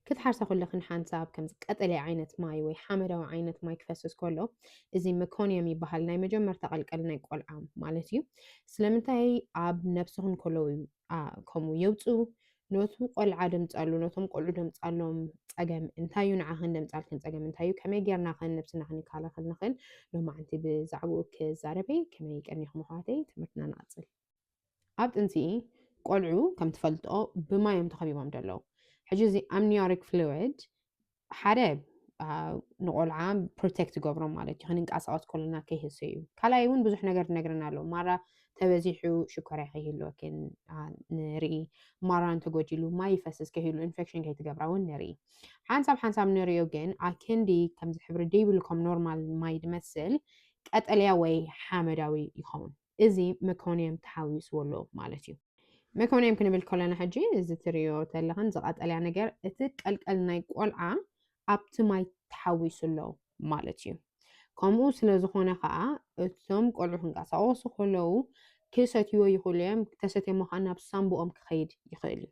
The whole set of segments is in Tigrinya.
ክትሓርሳ ኩለኽን ሓንሳብ ከምዚ ቀጠልያ ዓይነት ማይ ወይ ሓመዳዊ ዓይነት ማይ ክፈስስ ከሎ እዚ መኮንየም ይበሃል ናይ መጀመርታ ቀልቀል ናይ ቆልዓ ማለት እዩ ስለምንታይ ኣብ ነብስኽን ከለዉ ከምኡ የውፁ ነቱ ቆልዓ ደምፃሉ ነቶም ቆልዑ ደምፃሎም ፀገም እንታይ እዩ ንዓኽን ደምፃልክን ፀገም እንታይ እዩ ከመይ ጌርና ኸን ነብስና ክንከላኸል ንኽእል ሎማዓንቲ ብዛዕባኡ ክዛረበይ ከመይ ቀኒኹም ኣሕዋተይ ትምህርትና ንቐፅል ኣብ ጥንሲ ቆልዑ ከም ትፈልጦ ብማይ እዮም ተኸቢቦም ዘለዉ ሕጂ እዚ ኣምኒዮሪክ ፍሉድ ሓደ ንቆልዓ ፕሮቴክት ገብሮም ማለት እዩ ክንንቀሳቀስ ከሎና ከይህሰ እዩ ካልኣይ እውን ብዙሕ ነገር ትነግረና ኣለዎ ማራ ተበዚሑ ሽኮርያ ከይህልወኪ ንርኢ ማራ እንተጎዲሉ ማይ ይፈስስ ከይህሉ ኢንፌክሽን ከይትገብራ እውን ንርኢ ሓንሳብ ሓንሳብ ንሪዮ ግን ኣክንዲ ከምዚ ሕብሪ ደይብሉ ከም ኖርማል ማይ ድመስል ቀጠልያ ወይ ሓመዳዊ ይኸውን እዚ መኮንየም ተሓዊስዎ ኣሎ ማለት እዩ። መኮንየም ክንብል ከሎና ሕጂ እዚ ትርእዮ ተለኽን እዚ ቀጠልያ ነገር እቲ ቀልቀል ናይ ቆልዓ ኣብቲ ማይ ተሓዊሱ ኣሎ ማለት እዩ። ከምኡ ስለ ዝኾነ ከኣ እቶም ቆልዑ ክንቀሳቐሱ ከለዉ ክሰትይዎ ይኽእሉ እዮም፣ ተሰትዮሞ ከኣ ናብ ሳንቡኦም ክኸይድ ይኽእል እዩ።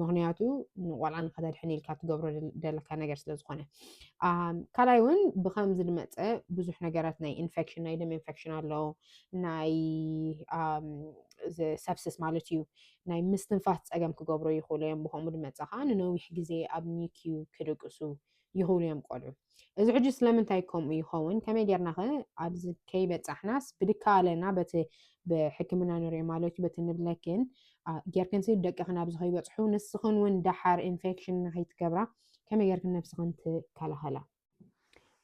ምክንያቱ ንቆልዓ ንከተድሕን ኢልካ ትገብሮ ደለካ ነገር ስለ ዝኾነ ካልኣይ እውን ብከምዚ ዝመፀ ብዙሕ ነገራት ናይ ኢንፌክሽን ናይ ደም ኢንፌክሽን ኣሎ ናይ ሰብስስ ማለት እዩ ናይ ምስትንፋስ ፀገም ክገብሮ ይኽእሉ እዮም ብከምኡ ድመፀ ከዓ ንነዊሕ ግዜ ኣብ ኒክዩ ክድቅሱ ይኽብሉ እዮም ቆልዑ። እዚ ሕጂ ስለምንታይ ከምኡ ይኸውን ከመይ ጌርና ከ ኣብዚ ከይበጻሕናስ ብድካለና በቲ ብሕክምና ንሪኦ ማለት እዩ በቲ ንብለክን ጌርክንሲ ደቅኽን ኣብዚ ከይበጽሑ ንስኽን እውን ደሓር ኢንፌክሽን ንኸይትገብራ ከመይ ጌርክን ነብስኽን ትከላኸላ?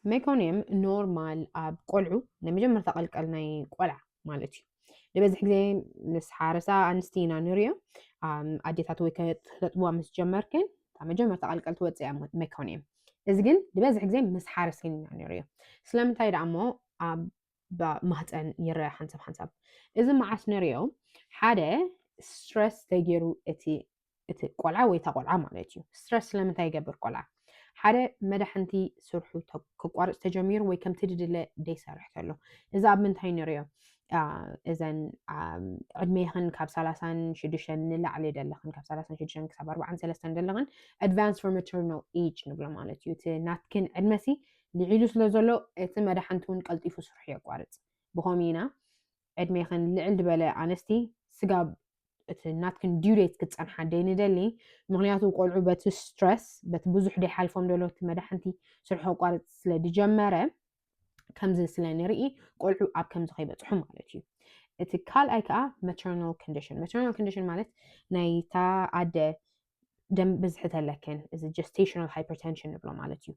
ሜኮንየም ኖርማል ኣብ ቆልዑ ናይ መጀመርታ ቀልቀል ናይ ቆልዓ ማለት እዩ። ንበዝሕ ግዜ ምስ ሓረሳ ኣንስቲ ኢና ንሪኦ ኣዴታት ወይ ከተጥብዋ ምስ ጀመርክን እታ መጀመርታ ቀልቀል ትወፅእ እያ መኮንያ እዚ ግን ንበዝሕ ግዜ ምስ ሓረስን ኢና ንሪኦ ስለምንታይ ደኣ እሞ ኣብ ማህፀን ይረአ ሓንሳብ ሓንሳብ እዚ መዓስ ንሪኦ ሓደ ስትረስ ተገይሩ እቲ እቲ ቆልዓ ወይ እታ ቆልዓ ማለት እዩ ስትረስ ስለምንታይ ይገብር ቆልዓ ሓደ መዳሕንቲ ስርሑ ክቋርፅ ተጀሚሩ ወይ ከምቲ ድድለ ደይሰርሕ ተሎ እዚ ኣብ ምንታይ ንሪኦ እዘን ዕድሜኽን ካብ ሰላሳን ሽዱሽተን ንላዕሊ ደለኽን ካብ ሰላሳን ሽዱሽተን ክሳብ ኣርባዓን ሰለስተን ደለኽን ኣድቫንስ ፎር ማተርናል ኤጅ ንብሎ ማለት እዩ እቲ ናትክን ዕድመሲ ልዒሉ ስለ ዘሎ እቲ መዳሕንቲ እውን ቀልጢፉ ስርሑ የቋርፅ ብኸምኡ ኢና ዕድሜክን ልዕል ድበለ ኣንስቲ ስጋብ እቲ ናትክን due date ክትጸንሓ ደይንደሊ ምክንያቱ ቆልዑ በቲ stress በቲ ብዙሕ ደይሓልፎም ደሎ እቲ መዳሕንቲ ስርሑ ከቋርጽ ስለ ድጀመረ ከምዚ ስለ ንርኢ ቆልዑ ኣብ ከምዚ ከይበጽሑ ማለት እዩ እቲ ካልኣይ ከኣ maternal condition maternal condition ማለት ናይታ ኣደ ደም ብዝሒ ተለክን እዚ ጀስቴሽናል ሃይፐርቴንሽን ንብሎ ማለት እዩ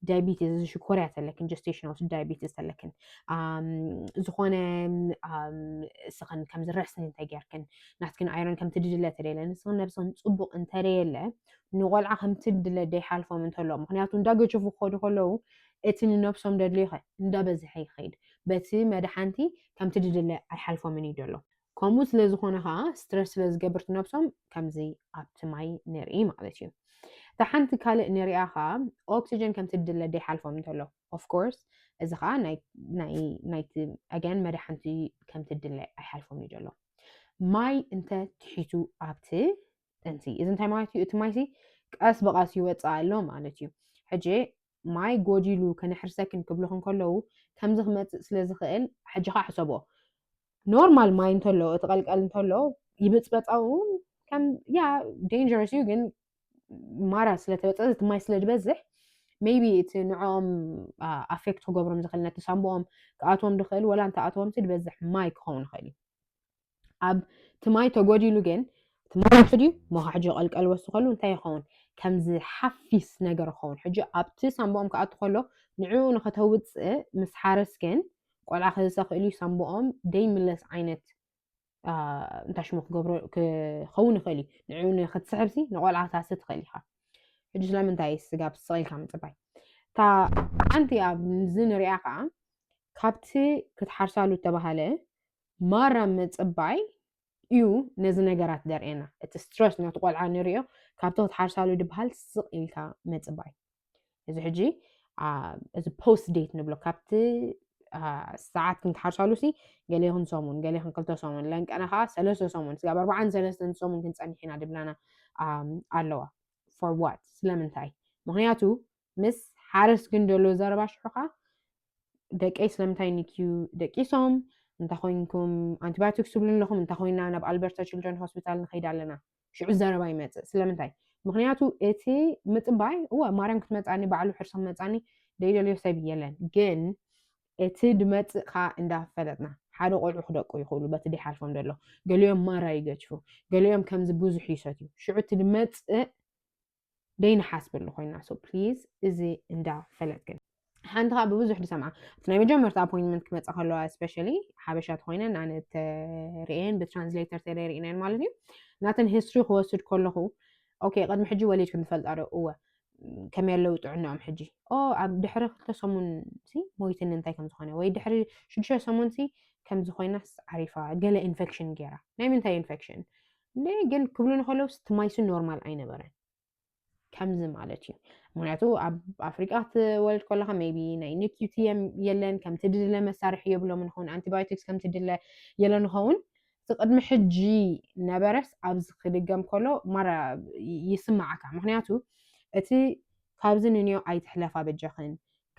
ዳያቢቲስ እዚ ሽኮርያ ተለክን ጀስቴሽናል ዳያቢቲስ ተለክን ዝኾነ እስኽን ከምዚ ረስኒ እንተጌርክን ናትክን ኣይረን ከምቲ ድድለ ተደለ ንስኽን ነብስኽን ፅቡቕ እንተደየለ ንቆልዓ ከምቲ ድለ ደይሓልፎም እንተሎ ምክንያቱ እንዳገጀፉ ክኸዱ ከለዉ እቲ ንነብሶም ደድልዮ እንዳበዝሐ ይኸይድ በቲ መድሓንቲ ከምቲ ድድለ ኣይሓልፎምን እዩ ደሎ ከምኡ ስለ ዝኾነ ከዓ ስትረስ ስለ ዝገብርት ነብሶም ከምዚ ኣብቲ ማይ ንርኢ ማለት እዩ እታ ሓንቲ ካልእ ንሪኣ ከዓ ኦክሲጅን ከምቲ ድለ ደይሓልፎም እንተሎ ኦፍኮርስ እዚ ከዓ ናይቲ ኣገን መድሓንቲ ከምቲ ድለ ኣይሓልፎም እዩ ዘሎ ማይ እንተ ትሒቱ ኣብቲ ጠንሲ እዚ እንታይ ማለት እዩ እቲ ማይሲ ቀስ ብቐስ ይወፅእ ኣሎ ማለት እዩ ሕጂ ማይ ጎዲሉ ከነሕርሰክን ክብልኽን ከለዉ ከምዚ ክመፅእ ስለ ዝኽእል ሕጂ ከዓ ሕሰቦ ኖርማል ማይ እንተሎ እቲ ቀልቀል እንተሎ ይብፅበፃኡ ከም ያ ዴንጀረስ እዩ ግን ማራ ስለተበፀ እቲ ማይ ስለ ዝበዝሕ ሜቢ እቲ ንዕኦም ኣፌክት ክገብሮም ዝኽእል ነቲ ሳምብኦም ክኣትዎም ዝኽእል ወላ እንተኣትዎምሲ ዝበዝሕ ማይ ክኸውን ይኽእል እዩ ኣብ ትማይ ተጎዲሉ ግን ትማይ ውሕድ እዩ ሞ ሕጂ ቀልቀል ወስኸሉ እንታይ ይኸውን ከምዚ ሓፊስ ነገር ይኸውን ሕጂ ኣብቲ ሳምቦኦም ክኣቱ ከሎ ንዕኡ ንኸተውፅእ ምስ ሓረስ ግን ቆልዓ ክዘሰኽእል እዩ ሳምቦኦም ደይምለስ ዓይነት እንታይ ሽሙ ክገብሮ ክኸውን ይኽእል እዩ ንዕኡ ንክትስሕብሲ ንቆልዓ ታስእ ትኽእል ኢኻ ሕጂ ስለምንታይ ስጋብ ስቕኢልካ ምፅባይ እታ ሓንቲ ኣብዚ ንሪኣ ከዓ ካብቲ ክትሓርሳሉ እተባሃለ ማራ ምጽባይ እዩ ነዚ ነገራት ደርእየና እቲ ስትረስ ነቲ ቆልዓ ንሪኦ ካብቶ ትሓርሳሉ ድበሃል ስቕ ኢልካ ምጽባይ እዚ ሕጂ እዚ ፖስት ዴት ንብሎ ካብቲ ሰዓት ክንትሓርሳሉ ሲ ገሌኹን ሰሙን ገሌኹን ክልተ ሰሙን ለንቀነ ከዓ ሰለስተ ሰሙን ስጋብ ኣርባዓን ሰለስተን ሰሙን ክንፀኒሕ ኢና ድብላና ኣለዋ ፎር ዋት ስለምንታይ ምክንያቱ ምስ ሓረስ ግን ዘሎ ዘረባ ሽሑኻ ደቀይ ስለምንታይ ንክዩ ደቂሶም እንታይ ኮይንኩም ኣንቲባዮቲክስ ትብሉ ኣለኹም እንታይ ኮይና ናብ ኣልበርታ ችልድረን ሆስፒታል ንኸይድ ኣለና ሽዑ ዘረባ ይመፅእ ስለምንታይ ምክንያቱ እቲ ምፅባይ እወ ማርያም ክትመፃኒ ባዕሉ ሕርሶም መፃኒ ደይደልዮ ሰብ የለን ግን እቲ ድመፅእ ከዓ እንዳፈለጥና ሓደ ቆልዑ ክደቁ ይኽእሉ በቲ ደይሓልፎም ዘሎ ገሊኦም ማራ ይገችፉ ገሊኦም ከምዚ ብዙሕ ይሰትዩ ሽዑ እቲ ድመፅእ ደይንሓስበሉ ኮይና ሶ ፕሊዝ እዚ እንዳ ፈለጥ ግን ሓንቲ ከዓ ብብዙሕ ድሰምዓ እቲ ናይ መጀመርታ ኣፖይንትመንት ክመፀ ከለዋ ስፔሻሊ ሓበሻ ተኮይነን ኣነ ተርእየን ብትራንስሌተር ተደሪእነን ማለት እዩ ናተን ሂስትሪ ክወስድ ከለኹ ኦኬ ቅድሚ ሕጂ ወሊድክን ትፈልጣ ዶ እወ ከመይ ኣለዉ ጥዕናኦም ሕጂ ኦ ኣብ ድሕሪ ክልተ ሰሙን ሲ ሞይትን እንታይ ከም ዝኾነ ወይ ድሕሪ ሽዱሽተ ሰሙን ሲ ከምዚ ኮይናስ ዓሪፋ ገለ ኢንፌክሽን ገይራ ናይ ምንታይ ኢንፌክሽን እንዴ ግን ክብሉ ንከለውስ እቲ ማይሱ ኖርማል ኣይነበረን ከምዚ ማለት እዩ ምክንያቱ ኣብ ኣፍሪቃ ክትወልድ ከለካ ቢ ናይ ንኪቲ የለን ከምቲ ድለ መሳርሒ የብሎም ንኸውን ኣንቲባዮቲክስ ከምቲ ድለ የለ ንኸውን እቲ ቅድሚ ሕጂ ነበረስ ኣብዚ ክድገም ከሎ ማራ ይስማዓካ ምክንያቱ እቲ ካብዚ ንንዮ ኣይትሕለፋ በጃኽን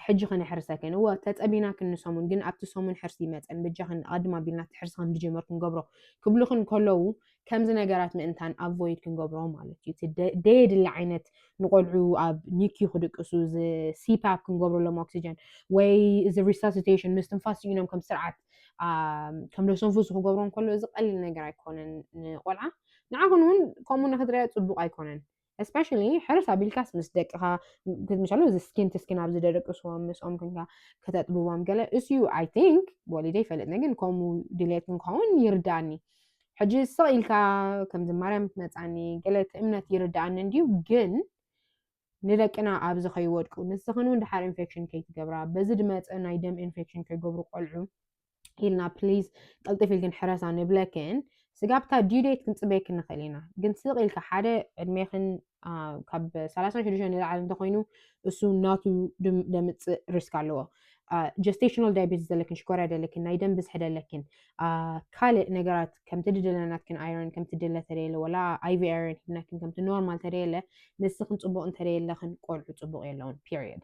ሕጂ ከነሕርሰክን እወ ተጸቢናክን ንሰሙን ግን ኣብቲ ሰሙን ሕርሲ ይመጸን በጃኽን ኣቐድም ኣቢልና እቲ ሕርሲ ከምድጀመር ክንገብሮ ክብሉኽን ከለዉ ከምዚ ነገራት ምእንታን ኣቮይድ ክንገብሮ ማለት እዩ እቲ ደየድሊ ዓይነት ንቆልዑ ኣብ ኒኪዩ ክድቅሱ እዚ ሲፓፕ ክንገብረሎም ኦክሲጀን ወይ እዚ ሪሳሲቴሽን ምስትንፋስ ስኢኖም ከም ስርዓት ከም ደሰንፉሱ ክገብሮ ከሎ እዚ ቀሊል ነገር ኣይኮነን ንቆልዓ ንዓኹን እውን ከምኡ ንክትሪኣ ጽቡቕ ኣይኮነን ስፔሻሊ ሕርስ ኣቢልካስ ምስ ደቅኻ ምሳሉ እዚ ስኪን ትስኪን ኣብ ዝደደቅስዎም ምስኦም ክንካ ከተጥብቦም ገለ እስዩ ኣይ ቲንክ ወሊደ ይፈልጥ ግን ከምኡ ድሌት ንክኸውን ይርዳእኒ ሕጂ ስቕ ኢልካ ከምዚ ማርያም ትመፃኒ ገለ እቲ እምነት ይርዳእኒ እንድዩ ግን ንደቅና ኣብዚ ከይወድቁ ንስኽን እውን ድሓር ኢንፌክሽን ከይትገብራ በዚ ድመፀ ናይ ደም ኢንፌክሽን ከይገብሩ ቆልዑ ኢልና ፕሊዝ ቅልጥፍ ኢልክን ሕረሳ ንብለክን ስጋብ እታ ዲዩ ዴት ክንፅበየክን ንኽእል ኢና ግን ስቕ ኢልካ ሓደ ዕድሜኽን ካብ ሰላሳን ሽዱሽተን ንላዕሊ እንተኮይኑ እሱ ናቱ ደምፅእ ሪስክ ኣለዎ ጀስቴሽናል ዳያቤትስ ዘለክን ሽኮርያ ደለክን ናይ ደም ብዝሒ ደለክን ካልእ ነገራት ከምቲ ድደለናትክን ኣይረን ከምቲ ድለ ተደየለ ወላ ኣይቪ ኣይረን ሂብናክን ከምቲ ኖርማል ተደየለ ንስኽን ፅቡቕ እንተደየለኽን ቆልዑ ፅቡቕ የለውን ፔሪየድ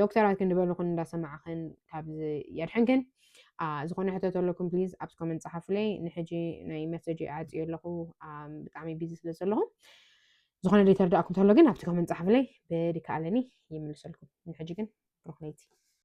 ዶክተራት ክንድበልኹን እንዳሰማዕኽን ካብ የድሕንክን ዝኾነ ሕቶ ተለኩም ፕሊዝ ኣብቲ ኮመንት ጸሓፉለይ ንሕጂ ናይ መሰጂ ኣዕጽዮ ኣለኹ ብጣዕሚ ቢዚ ስለ ዘለኹ ዝኾነ ደይተርዳእኩም ተሎ ግን ኣብቲ ኮመንት ጸሓፉለይ ብድካ ኣለኒ ይምልሰልኩም ንሕጂ ግን ሩክነይቲ